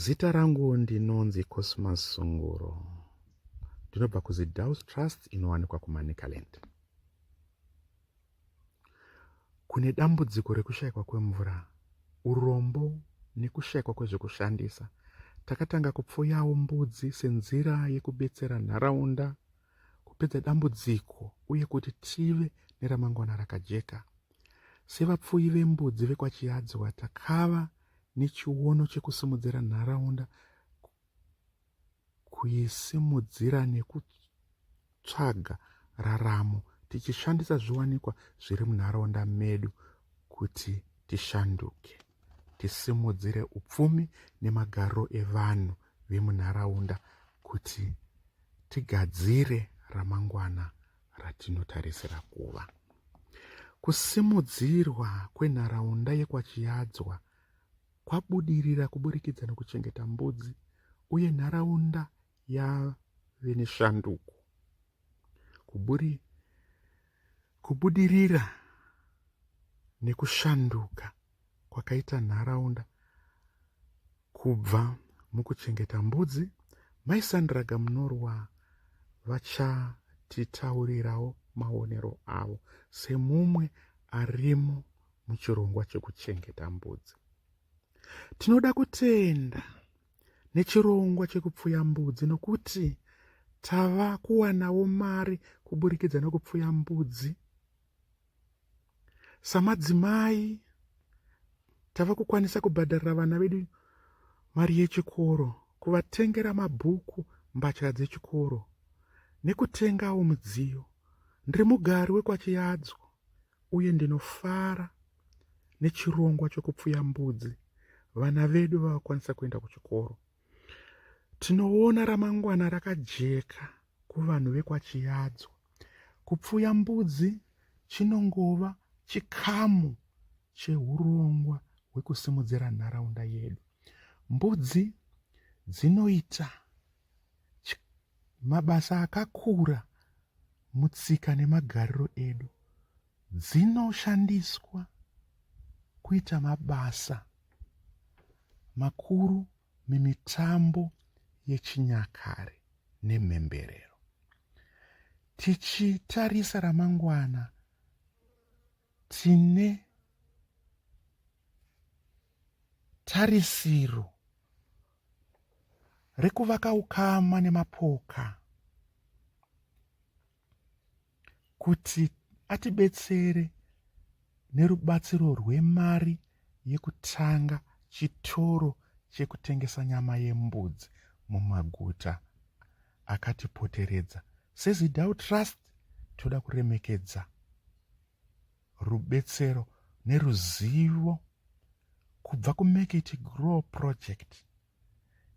Zita rangu ndinonzi Cosmas Sunguro. Ndinobva kuZidaus Trust inowanikwa kuManicaland. Kune dambudziko rekushayikwa kwemvura, urombo nekushayikwa kwezvekushandisa. Takatanga kupfuyawo mbudzi senzira yekubetsera nharaunda kupedza dambudziko uye kuti tive neramangwana rakajeka. Sevapfuyi vembudzi vekwaChiyadziwa takava nechiono chekusimudzira nharaunda kuisimudzira nekutsvaga raramo tichishandisa zviwanikwa zviri munharaunda medu kuti tishanduke tisimudzire upfumi nemagariro evanhu vemunharaunda kuti tigadzire ramangwana ratinotarisira kuva kusimudzirwa kwenharaunda yekwachiyadzwa kwabudirira kuburikidza nokuchengeta mbudzi uye nharaunda yave neshanduko kuburi kubudirira nekushanduka kwakaita nharaunda Kubva mukuchengeta mbudzi, Mai Sandra Gamunorwa vachatitaurirawo maonero avo semumwe arimo muchirongwa chekuchengeta mbudzi. Tinoda kutenda nechirongwa chekupfuya mbudzi nokuti tava kuwanawo mari kuburikidza nokupfuya mbudzi samadzimai tava kukwanisa kubhadharira vana vedu mari yechikoro kuvatengera mabhuku mbatya dzechikoro nekutengawo mudziyo ndiri mugari wekwachiyadzo uye ndinofara nechirongwa chokupfuya mbudzi vana vedu vakakwanisa kuenda kuchikoro Tinoona ramangwana rakajeka kuvanhu vekwaChiyadzwa. Kupfuya mbudzi chinongova chikamu chehurongwa hwekusimudzira nharaunda yedu. Mbudzi dzinoita mabasa akakura mutsika nemagariro edu. dzinoshandiswa kuita mabasa makuru mumitambo yechinyakare nemhemberero. Tichitarisa ramangwana, tine tarisiro rekuvaka ukama nemapoka kuti atibetsere nerubatsiro rwemari yekutanga chitoro chekutengesa nyama yembudzi mumaguta akatipoteredza sezidau trust toda kuremekedza rubetsero neruzivo kubva kumekiti grow project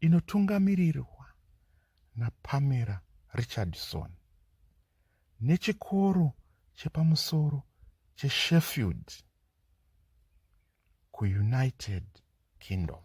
inotungamirirwa naPamela Richardson nechikoro chepamusoro cheSheffield kuUnited Kingdom.